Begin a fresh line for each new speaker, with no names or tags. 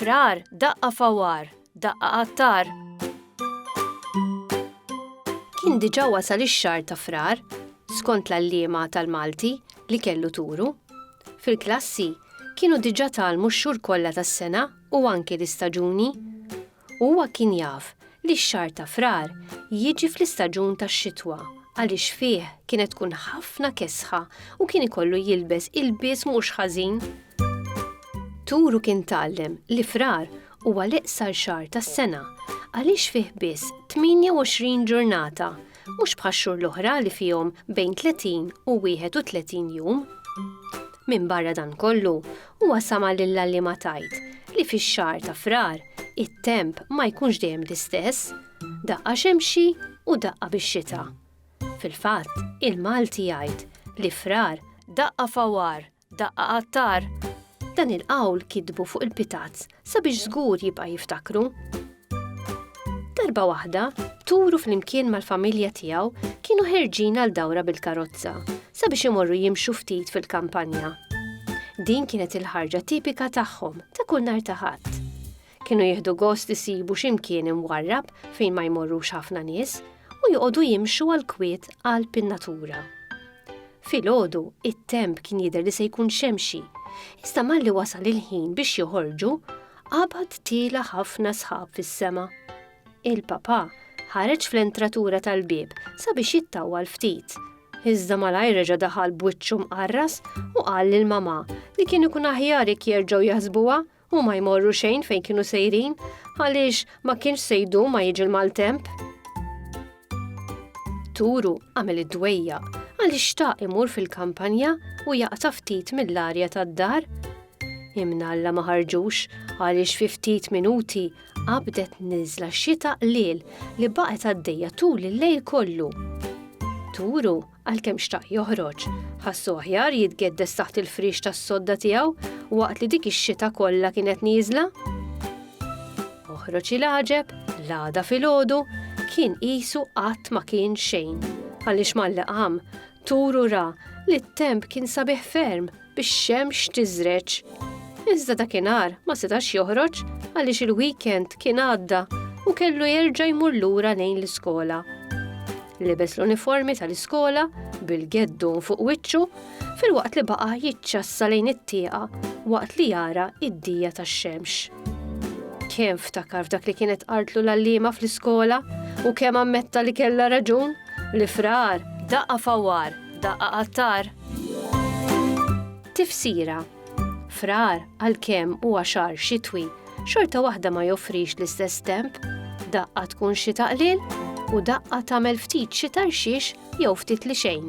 Frar, daqqa fawar, daqqa qattar. Kien diġa wasal ix-xar ta' frar, skont l-allima tal-Malti li kellu turu. Fil-klassi, kienu diġa talmu x-xur kollha tas-sena u anki l-istaġuni. u huwa kien jaf li x-xahar ta' Frar jiġi fl-istaġun tax-xitwa għaliex fih kienet tkun ħafna kesħa u kien ikollu jilbes ilbies mhux ħażin. Turu kien tgħallem li Frar huwa l-iqsar xahar tas-sena għaliex fih biss 28 ġurnata mhux bħax-xhur l-oħra li fihom bejn 30 u 31 jum. Minbarra dan kollu, huwa sama' lill-għalliema tgħid li fix-xahar ta' Frar it-temp ma jkunx dejjem l-istess, daqqa xemxi u daqqa bix-xita. Fil-fatt, il-Malti jgħid li Frar daqqa fawar Daqqa għattar. Dan il-qawl kitbu fuq il-pitazz sabiex żgur jibqa' jiftakru. Darba waħda, Turu flimkien mal-familja tiegħu kienu ħerġin għal dawra bil-karozza sabiex imorru jimxu ftit fil-kampanja. Din kienet il-ħarġa tipika tagħhom ta' kull nar ta' ħadd. Kienu jieħdu gost isibu xi mkien imwarrab fejn ma jmorrux ħafna nies u joqogħdu jimxu għal kwiet għal pin-natura. Filgħodu, it-temp kien jidher li se jkun xemxi, iżda malli wasal il-ħin biex joħorġu, qabad tila ħafna sħab fis-sema. Il-papa ħareġ fl-entratura tal-bieb sabiex jittawwal ftit. Iżda malajr reġa' daħal b'wiċċu mqarras u qal lil mama li kien ikun aħjar jekk jerġgħu jaħsbuha Huma jmorru xejn fejn kienu sejrin, għaliex ma kienx se jdum ma jiġi l-maltemp. Turu għamel id-dwejja għaliex xtaq imur fil-kampanja u jaqta' ftit mill-arja tad-dar. Imnalla ma ħarġux għaliex fi ftit minuti qabdet niżla xita qliel li baqgħet għaddejja tul il-lejl kollu. Turu Għalkemm xtaq joħroġ, ħassu aħjar jitgeddes taħt il-friex tas-sodda tiegħu waqt li dik ix-xita kollha kienet nieżla. Oħroġ il-għaġeb, l-għada filgħodu, kien qisu qatt ma kien xejn. Għaliex mal-liqam, turu ra li t-temp kien sabiħ ferm bix-xemx tiżreġ. Iżda dakinhar ma setax joħroġ għaliex il-weekend kien għadda u kellu jerġa' jmur lura lejn l-iskola. Libes l-uniformi tal-iskola bil-geddu fuq wiċċu filwaqt li baqa' jiċċassa lejn it-tieqa waqt li jara id-dija tax-xemx. Kemm ftakar f'dak li kienet qartlu l-għalliema fl-iskola u kemm ammetta li kellha raġun, l-ifrar daqqa fawar Daqqa qattar. Tifsira Frar għalkemm huwa xahar xitwi, xorta waħda ma joffrix l-istess temp, daqqa tkun xi taqlil u daqqa tagħmel ftit xi tarxix jew ftit li xejn.